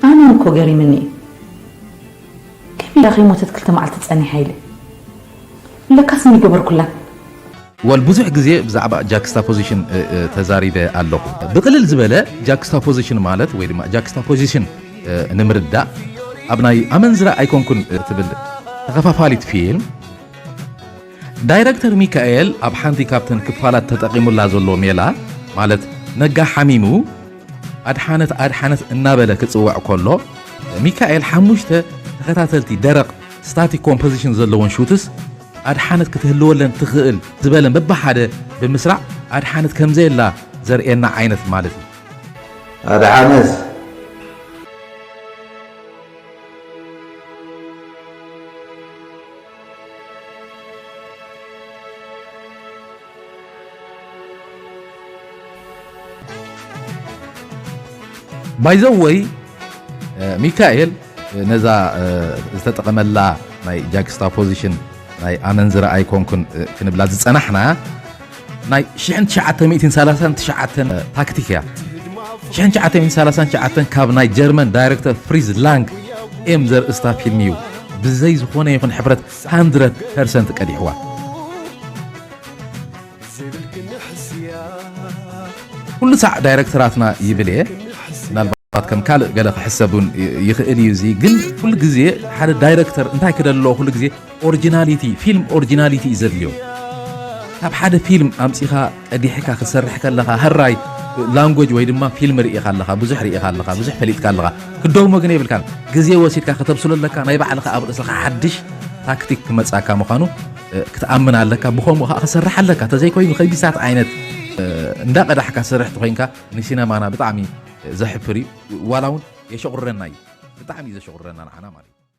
ኣነን እኮ ገሪምኒ እዩ ከቢዳ ከይሞተት ክልተ መዓልቲ ፀኒሓ ኢለ ለካስ እንይገበርኩላን ወል ብዙሕ ግዜ ብዛዕባ ጃክስታፖዚሽን ተዛሪበ ኣለኹ ብቕልል ዝበለ ጃክስታፖዚሽን ማለት ወይ ድማ ጃክስታፖዚሽን ንምርዳእ ኣብ ናይ ኣመንዝራ ኣይኮንኩን ትብል ተኸፋፋሊት ፊልም ዳይረክተር ሚካኤል ኣብ ሓንቲ ካብተን ክፋላት ተጠቒሙላ ዘሎ ሜላ ማለት ነጋ ሓሚሙ ኣድሓነት ኣድሓነት እናበለ ክጽውዕ ከሎ ሚካኤል ሓሙሽተ ተኸታተልቲ ደረቕ ስታቲክ ኮምፖዚሽን ዘለዎን ሹትስ ኣድሓነት ክትህልወለን ትኽእል ዝበለን በብሓደ ብምስራዕ ኣድሓነት ከምዘየላ ዘርእየና ዓይነት ማለት እዩ። ኣድሓነት! ባይዘወይ ሚካኤል ነዛ ዝተጠቐመላ ናይ ጃክስታ ፖዚሽን ናይ ኣመንዝራ ኣይኮንኩን ክንብላ ዝፀናሕና ናይ ሽሕን ትሽዓተ ሚእትን ሰላሳን ትሽዓተን ታክቲክ እያ ሽሕን ትሽዓተ ሚእትን ሰላሳን ትሽዓተን ካብ ናይ ጀርመን ዳይረክተር ፍሪዝ ላንግ ኤም ዘርእስታ ፊልም እዩ ብዘይ ዝኾነ ይኹን ሕፍረት 100 ፐርሰንት ቀዲሕዋ ኩሉ ሳዕ ዳይረክተራትና ይብል እየ ምናልባት ከም ካልእ ገለ ክሕሰብ እውን ይኽእል እዩ እዚ ግን ኩሉ ግዜ ሓደ ዳይረክተር እንታይ ክደሎ ኩሉ ግዜ ኦርጅናሊቲ ፊልም ኦርጅናሊቲ እዩ ዘድልዮ ካብ ሓደ ፊልም ኣምጺኻ ቀዲሕካ ክትሰርሕ ከለኻ ሀራይ ላንጎጅ ወይ ድማ ፊልም ርኢኻ ኣለኻ ብዙሕ ርኢኻ ኣለኻ ብዙሕ ፈሊጥካ ኣለኻ ክደግሞ ግን የብልካን ግዜ ወሲድካ ከተብስሎ ኣለካ ናይ ባዕልኻ ኣብ ርእስኻ ሓድሽ ታክቲክ ክመጻካ ምዃኑ ክትኣምን ኣለካ ብከምኡ ከዓ ክሰርሕ ኣለካ ተዘይኮይኑ ከቢሳት ዓይነት እንዳቀዳሕካ ስርሕ ትኮይንካ ንሲነማና ብጣዕሚ ዘሕፍር እዩ ዋላ እውን የሸቁረና እዩ ብጣዕሚ እዩ ዘሸቁረና ንዓና ማለት እዩ